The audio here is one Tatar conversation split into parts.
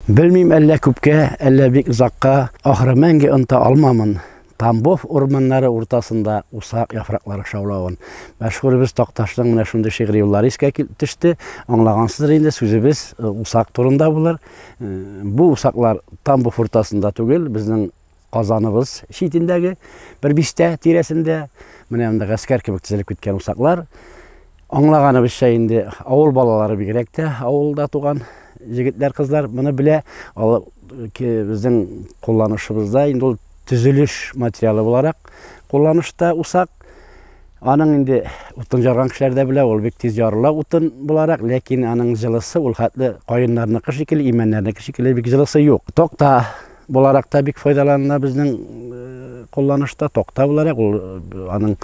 Белмим әллә күпкә, әллә бик озакка, ахры мәңге оныта алмамын. Тамбов урманнары уртасында усак яфраклары шаулавын. Мәшһүребез Такташның менә шундый шигъри юллары искә төште. Аңлагансыздыр инде, сүзебез э, усак турында булыр. Э, бу усаклар Тамбов уртасында түгел, безнең Казаныбыз читендәге бер бистә тирәсендә менә монда гаскәр кебек тезелеп киткән усаклар. Аңлаганыбызча инде авыл балалары бигрәк тә авылда туган җегетләр, кызлар моны белә. Ал безнең кулланышыбызда инде ул төзелеш материалы буларак кулланышта усак. Аның инде утын жарган кешеләр дә белә, ул бик тиз ярыла утын буларак, ләкин аның җылысы ул хәтле каеннарныкы шикелле, имәннәрнеке шикелле бик җылысы юк. Токта Буларак та бик файдаланына безнең кулланышта токта буларак ул аның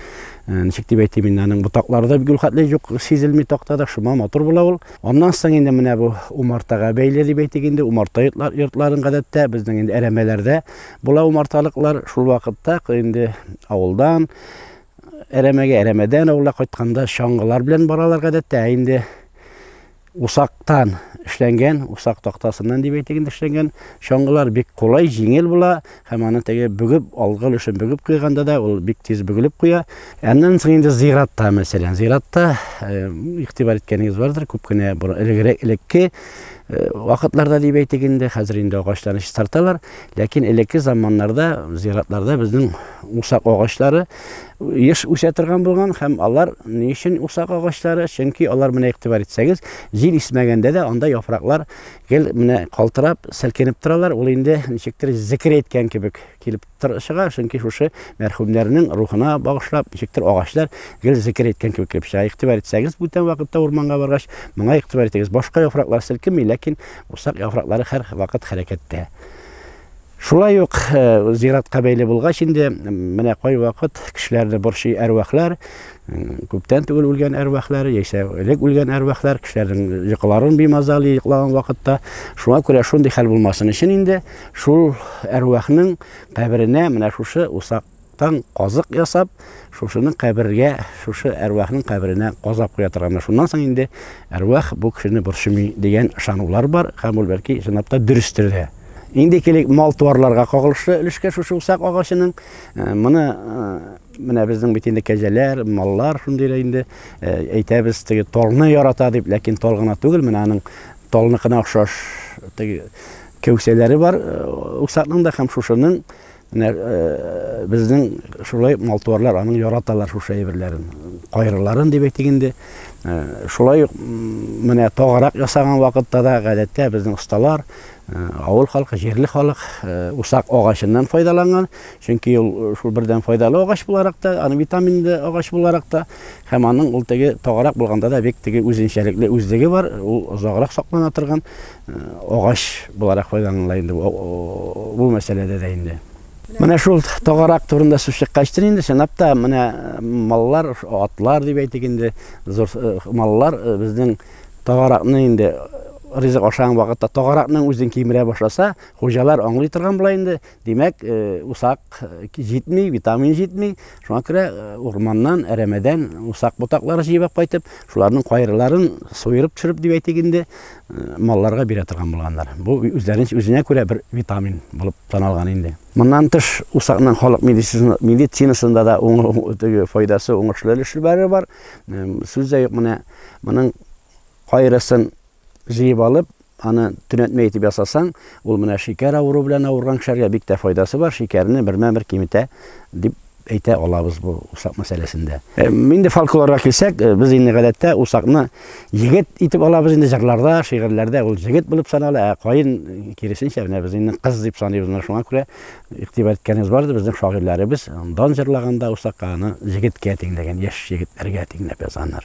ничек дип әйтим инде аның ботакларда гүл хәтле юк сизелми токтада шума матур була ул аннан соң инде менә бу умартага бәйле дип әйтик инде умарта йортларын гадәттә безнең инде әрәмәләрдә була умарталыклар шул вакытта инде авылдан әрәмәгә әрәмәдән авылга кайтканда чаңгылар белән баралар гадәттә инде Усактан эшләнгән, усак тактасыннан дип әйтик инде эшләнгән чаңгылар бик кулай, җиңел була һәм аны теге бөгеп, алгы өлешен бөгеп куйганда да ул бик тиз бөгелеп куя. Аннан соң инде зиратта, мәсәлән, зиратта э, игътибар иткәнегез бардыр, күп кенә элегрәк элекке э, вакытларда дип әйтик инде, хәзер инде агачларны чистарталар, ләкин элекке заманнарда зиратларда безнең усак агачлары еш үсә торган булган һәм алар ни өчен усак агачлары? Чөнки алар менә игътибар итсәгез, җил исмәгәндә дә анда яфраклар гел менә калтырап, селкенеп торалар. Ул инде ничектер зикер әйткән кебек килеп чыга, чөнки шушы мәрхүмнәрнең рухына багышлап, ничектер агачлар гел зикер әйткән кебек килеп чыга. Игътибар итсәгез, бүтән вакытта урманга баргач, моңа игътибар итегез. Башка яфраклар селкенми, ләкин усак яфраклары һәр вакыт хәрәкәттә. Шулай ук зиратка бәйле булгач инде, менә кай вакыт кешеләрне борчый әрвахлар, күптән түгел үлгән әрвахлар, яисә элек үлгән әрвахлар, кешеләрнең йокыларын бимазалый йоклаган вакытта. Шуңа күрә шундый хәл булмасын өчен инде шул әрвахның каберенә менә шушы усак Тан казык ясап, шушының кабергә, шушы әрвахның каберенә казап куя торганнар. Шуннан соң инде әрвах бу кешене борчымый дигән ышанулар бар һәм ул бәлки чынлап та дөрестер дә. Инде килик мал-туарларга кагылышлы өлешкә шушы усак агачының. Э, моны э, менә безнең бит инде кәҗәләр, маллар шундый инде э, әйтәбез, теге толны ярата дип, ләкин тол гына түгел, менә аның толныкына охшаш теге кәүсәләре бар усакның да һәм шушының Менә безнең шулай малтуарлар аның яраталар шушы әйберләрен. Кайрыларын дип әйтик инде. Шулай ук менә тагарак ясаган вакытта да гадәттә безнең осталар авыл халкы, җирле халык усак агачыннан файдаланган. Чөнки ул шул бердән файдалы агач буларак та, аны витаминлы агач буларак та һәм аның ул теге тагарак булганда да бик теге үзенчәлекле үзлеге бар. Ул озаграк саклана торган. агач буларак файдаланыла инде бу мәсьәләдә дә инде. Менә шул тагарак турында сүз чыккач тын инде, чынлап та, менә маллар, атлар дип әйтик инде, зур маллар безнең тагаракны инде ризык ашаган вакытта тагаракның үзен кимерә башласа, хуҗалар аңлый торган була инде, Димәк, усак җитми, витамин җитми. Шуңа күрә урманнан, әрәмәдән усак ботаклары җыеп кайтып, шуларның кайрыларын суырып төшереп дип әйтик инде, малларга бирә торган булганнар. Бу үзләрен үзенә күрә бер витамин булып таналган инде. Моннан тыш усакның халык медицинасында да файдасы, уңышлы өлешләре бар. Сүз дә юк, менә моның кайрысын Җыеп алып, аны төнәтмә итеп ясасаң, ул менә шикәр авыруы белән авырган кешеләргә бик тә файдасы бар, шикәрне бермә-бер киметә, дип әйтә алабыз бу усак мәсьәләсендә. Инде фольклорга килсәк, без инде гадәттә усакны егет итеп алабыз инде, җырларда, шигырьләрдә ул җегет булып санала, ә каен, киресенчә, менә без инде кыз дип саныйбыз, менә шуңа күрә игътибар иткәнебез бар иде, безнең шагыйрьләребез дан җырлаганда усакка аны җегеткә тиңләгән, яшь егетләргә тиңләп язганнар.